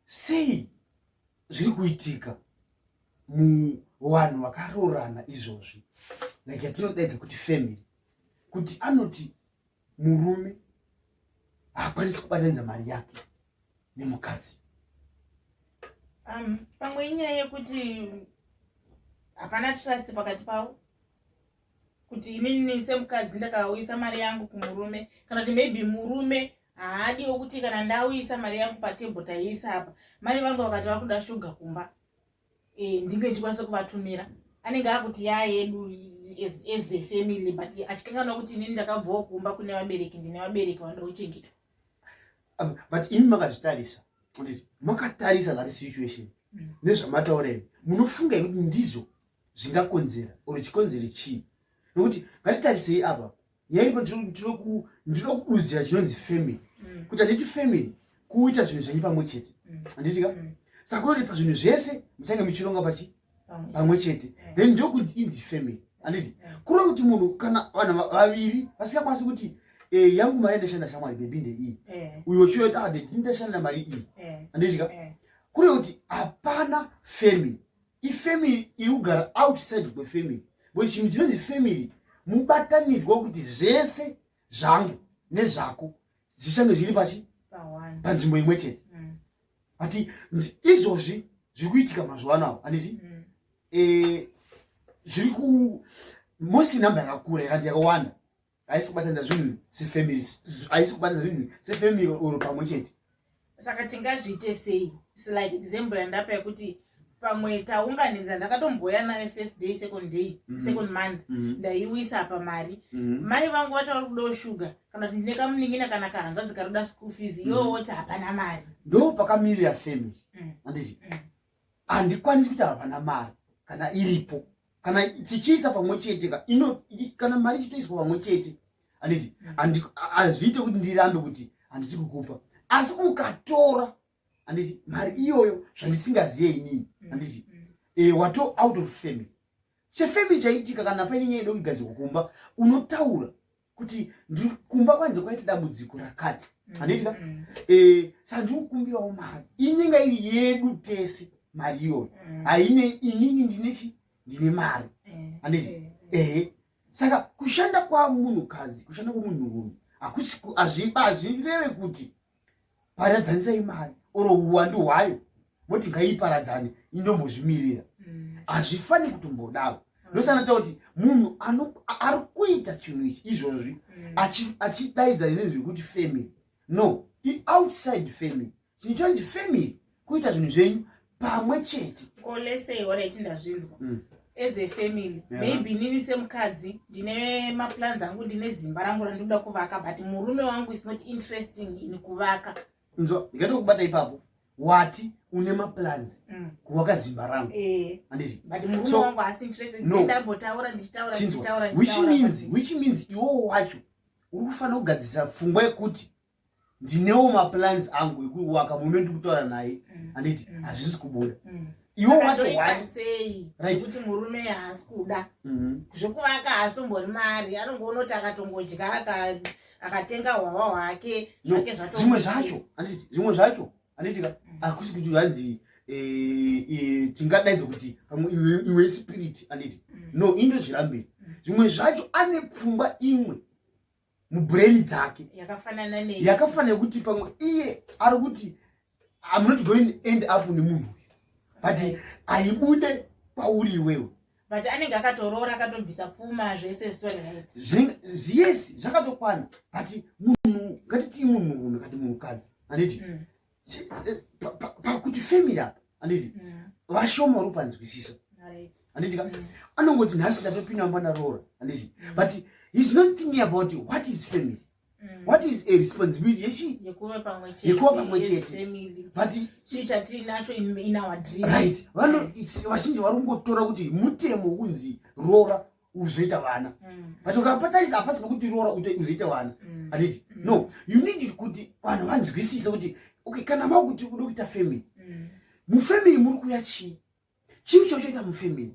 sei zviri kuitika muvanhu vakaroorana izvozvi like yatinodaidza kuti family kuti anoti murume haakwanisi kubatanidza mari yake nemukadzi um, pamwe inyaya yekuti hapana trust pakati pavo kuti inini semukadzi ndakauyisa mari yangu kumurume kana kuti maybe murume haadiwo kuti kana ndauyisa mari yangu patebho taiisa apa mai vangu vakati vakuda shuga kumba e, ndinge ndichikwanisa kuvatumira anenge akuti yaa yedu as a family but achikanganwa kuti inini ndakabvawo kumba kune vabereki ndine vabereki vanoda kuchengetwa but imi makazvitarisa makatarisa that situation mm. nezvamataureni munofunga kuti ndizo zvingakonzera or chikonzero chii nokuti ngatitarisei apa nyaya iripo ndinoda kududzira chinonzi family mm. kuti handiti family kuita zvinhu zvenyu pamwe chete mm. handitika mm. saka kunoti pazvinhu zvese muchange muchironga pachi pamwe chete then ndokuti inzi family handiti kureva kuti munhu kana vanhu vaviri vasingakwanisi kuti eh, yangu mari ndashanda shamwari bebi ndeiyi eh. uyo uchiyoita adedi ah, ndashanda mari iyi handitika kureva kuti hapana family ifamily iri kugara outside kwefamily but chinhu chinonzi family mubatanidzwa kuti zvese zvangu nezvako zvichange zviri pachi panzvimbo imwe chete mm. ati izvozvi zviri kuitika mazuva anawo anditi mm. eh, zviri ku mosi number yakakura yakandi yakawanda haisi kubatana zvinhu sefamily haisi kubatana zvinhu sefamily or pamwe chete saka tingazviite sei slike example yandapa yekuti pamwe taunganidza ndakatomboya naye first day second day mm -hmm. second month mm -hmm. ndaiwisa apa mari mm -hmm. mai vangu vati vari kudawo shuga kana kuti ndine kamunin'ina kana kahanzvadzi kari kuda school fees mm -hmm. iwo woti hapana mari ndo pakamirira family mm. anditi mm. handikwanisi kuti havana mari kana iripo kana tichiisa pamwe chete ka ino kana mari ichitoiswa pamwe chete anditi hazviite kuti ndirambe kuti handisi kukupa asi ukatora anditi mari iyoyo zvandisingaziye inini mm, anditi mm. e, wato out of family chefamily chaitika kana paine nyaya yedo kugadzirwa kumba unotaura kuti kumba kwanze kwaita dambudziko rakati handiitika mm, mm. eh, sa ndiri kukumbirawo mari inyinga iri yedu tese mari iyoyo mm. haine inini ndine chi ndine mari eh, handiti eh, eh. ehe saka kushanda kwamunhukadzi kushanda kwemunhurume hazvireve kuti paradzanisai mari or uwandu hwayo voti ngaiparadzane indombozvimirira mm. hazvifani kutombodaro ndosana ta kuti munhu ari kuita chinhu ichi izvozvi mm. achidaidza inezvi rekuti family no ioutside family chinhu chonzi family kuita zvinhu zvenyu pamwe chete ko lesei horaiti ndazvinzwa mm. as a family yeah. maybe nini semukadzi ndine maplans angu ndine zimba rangu randinoda kuvaka but murume wangu is not interesting in kuvaka nzo ndikatokubata ipapo wati une maplans mm. kuvaka zimba rangu eh. andizviwhich means iwowo wacho uri kufanira kugadzirisa fungwa yekuti ndinewo maplans angu ekuwaka mume ndi kutaura naye mm. anditi mm. hazvisi kubuda mm. iwo wacho wasei kuti murume haasi kuda mm-hmm. zvekuvaka haazvitombori mari anongoonoti akatongodya akatenga hwahwa hwake zvake zvatozvimwe zvacho anditi zvimwe zvacho anditi hakusi kuti hanzi eh, eh, tingadaidzo kuti iwe spirit anditi no indozvirambiri zvimwe zvacho ane pfungwa imwe mubrain dzake yakafanana ne yakafanana kuti pamwe iye ari kuti i'm not going end up nemunhu uyu but aibude pauri iwewe but anenge akatoroora akatobvisa pfuma zvese zviyes zvakatokwana but munhu ngatitii munhu unhu kati munhukadzi anditi mm. eh, pakuti family apa anditi mm. vashoma uri panzwisisa anditi mm. anongoti nhasi ndatopinda mumba ndaroora anditi mm. but he's not thinking about what is family what is a responsibility yechi yekuva pamwe chete yekuva pamwe chete but chii chatiri nacho in our dream right vano vazhinji vari kungotora kuti mutemo unzi roora uzoita vana mm. but ukapatarisa hapasi pekuti roora kuti uzoita vana mm. handiti mm. no you need kuti vanhu vanzwisise kuti okay kana mau kuti uda kuita family mufamily muri kuya chii chii chauchaita mufamily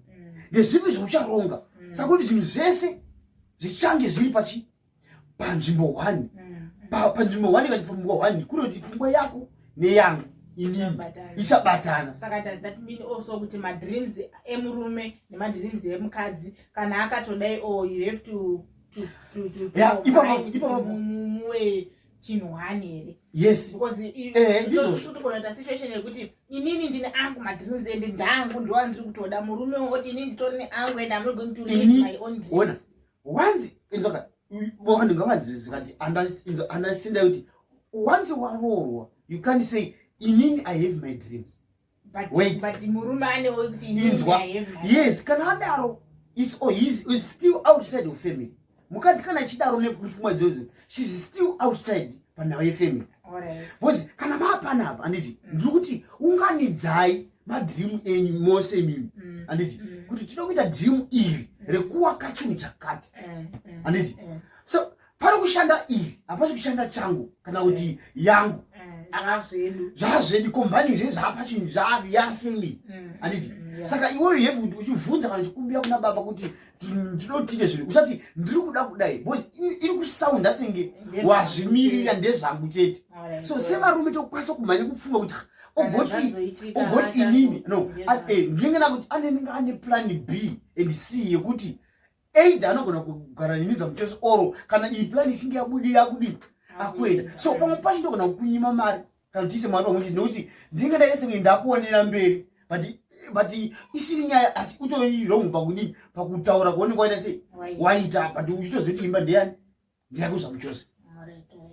ndezvipi zvaucharonga saka kuti zvinhu zvese zvichange zviri pachi panzvimbo one mm. panzvimbo one ikati pfungwa one kunoti pfungwa yako neyangu inini ichabatana saka does that mean also kuti madreams emurume nemadreams emukadzi kana akatodai o oh, you have to ipapamuwe chinhu hani here yes because eh, ndizvotogona situation yekuti inini ndine angu madreams ende ndangu ndoandiri kutoda murume oti inini nditori neangu and amnogoing to live my own dreams wanzi inzoka vanhu ngavanzwisisa kuti understand kuti once waroorwa you can't say inini i have my dreams inzwa yes kana adaro is oh, is, is still outside of family mukadzi kana achidaro nepfuma idzodzo shes still outside panhava yefamily bcause kana maapanapa anditi mm. ndiri kuti unganidzai madream enyu mose mimi mm. anditi mm. kuti tinoda kuita dream iri rekuwaka chinhu chakati eh, eh, anditi eh. so pari kushanda iri hapasi kushanda changu kana kuti yangu zvazvedu kombani zvezvapa chinhu zvavi yafamily anditi saka iweyo heve kuti uchivhunza kana uchikumbira kuna baba kuti ndinotiite zvinhu usati ndiri kuda kudai bcause iri kusaunda senge wazvimirira ndezvangu chete so sevarume tokwanisa kumhanya kufunga kuti ogoti ogoti inini no eh, ndinenge nakuti anenge ane plan b and c yekuti either anogona kugara neni zamuteso oro kana iyi plan ichinge yabudira kudii akuenda so pamwe pacho ndogona kukunyima mari kana kuti ise mwana wemuti nekuti ndinenge ndaita senge ndakuonera mberi but but isiri nyaya asi utori wrong pakudii pakutaura kuoneka waita sei waita but uchitozoti imba ndeyani ndiyako zvangu chose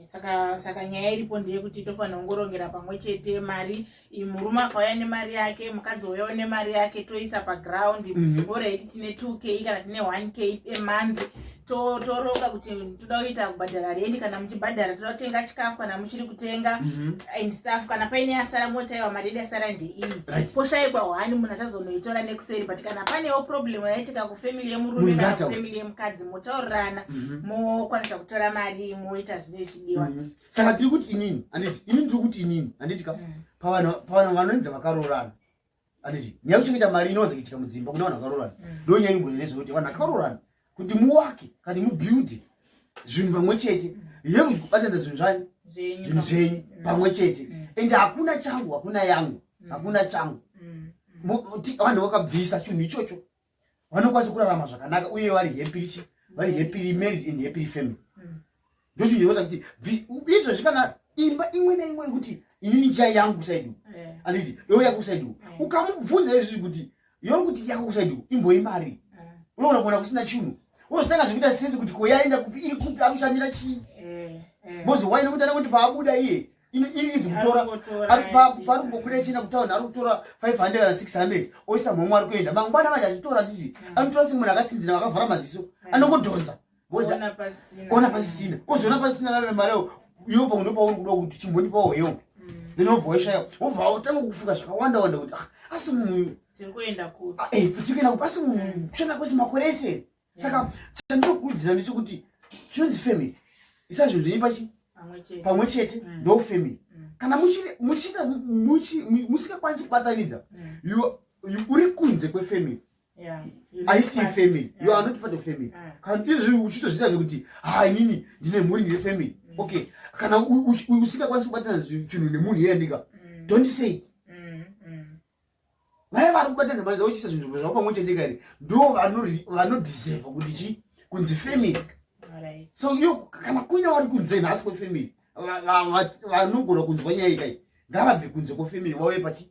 saka saka nyaya iripo ndeyekuti tofanira kungorongera pamwe chete mari murume akauya nemari yake mukadzi uyawo nemari yake toisa paground mm -hmm. ora iti tine 2 k kana tine 1 k emonth toroka to kuti toda kuita kubhadhara rendi kana muchibhadhara toda kutenga chikafu kana muchiri kutenga mm -hmm. and staff kana paine yasara motaiwa maredi asara ndeiyi right. poshaikwa hwani munhu achazonoitora nekuseri but kana panewo problem yaitika kufamily yemurume kana kufamily yemukadzi motaurirana mm -hmm. mokwanisa kutora mari moita zvine chidiwa mm -hmm. saka tiri kuti inini anditi inini tiri kuti inini anditika mm. pavana vanoenza vakaroorana anditi nyaya kuchengeta mari inowanza kuitika mudzimba kune vanhu vakarorana mm. ndo nyaya inombonene zvekuti vanhu vakarorana kuti muwake kati mubuilde zvinhu pamwe chete yeku kubatanidza zvinhu zvani zvinhu zvenyu mm. pamwe chete mm. ende hakuna changu hakuna yangu hakuna changu vanhu vakabvisa chinhu ichocho vanokwanisa kurarama zvakanaka uye vari happy rich vari happy married and happy family mm. ndozvinota kuti izvozvi kana imba imwe neimwe kuti inini chai yangu kusaidiwa eh. anditi yo yako kusaidiwa eh. ukamubvunza izvi kuti yo kuti yako kusaidiwa imboi mari eh. unoona kuona kusina chinhu unozotanga zvekuita sese kuti koyaenda kupi iri kupi akushandira chii bozi waine kuti ana kuti paabuda iye ino iri izi kutora ari papo pari kungobuda china kutauni ari kutora 500 kana 600 oisa mhomwe ari kuenda mangwana manje achitora ndizvi mm. anotora semunhu akatsinzina vakavhara maziso mm. anongodhonza ona pasisina ozoona pasisina vave mari yao iwo pamwe ndopauri kuda kuti chimhoni pawo hewo mm. then obva waishaya obva otanga kufunga zvakawanda wanda kuti ah, asi munhu tiri kuenda kupi ah, eh, asi munhu kushanda kwese makore ese saka mm. chandinokurudzira ndechekuti chinonzi family isazvinzvenyi pachi pamwe chete mm. ndo family mm. kana musikakwanisi kubatanidza uri kunze kwefamily aisi ifamily yo anoti pato family kana izvi uchitozviita zvekuti ha inini ndine mhuri ndiri family okay kana usikakwanisi kubatana chinhu nemunhu iyendika don't say it vaya vari kubata nhema dzavo chisa zvinzvimbo zvavo pamwe chete kani ndo vanodhiserva kuti chii kunzi family so yo kana kuina vari kunze nhasi kwefamily vanogona kunzwa nyaya ikai ngavabve kunze kwefamily vauye pachi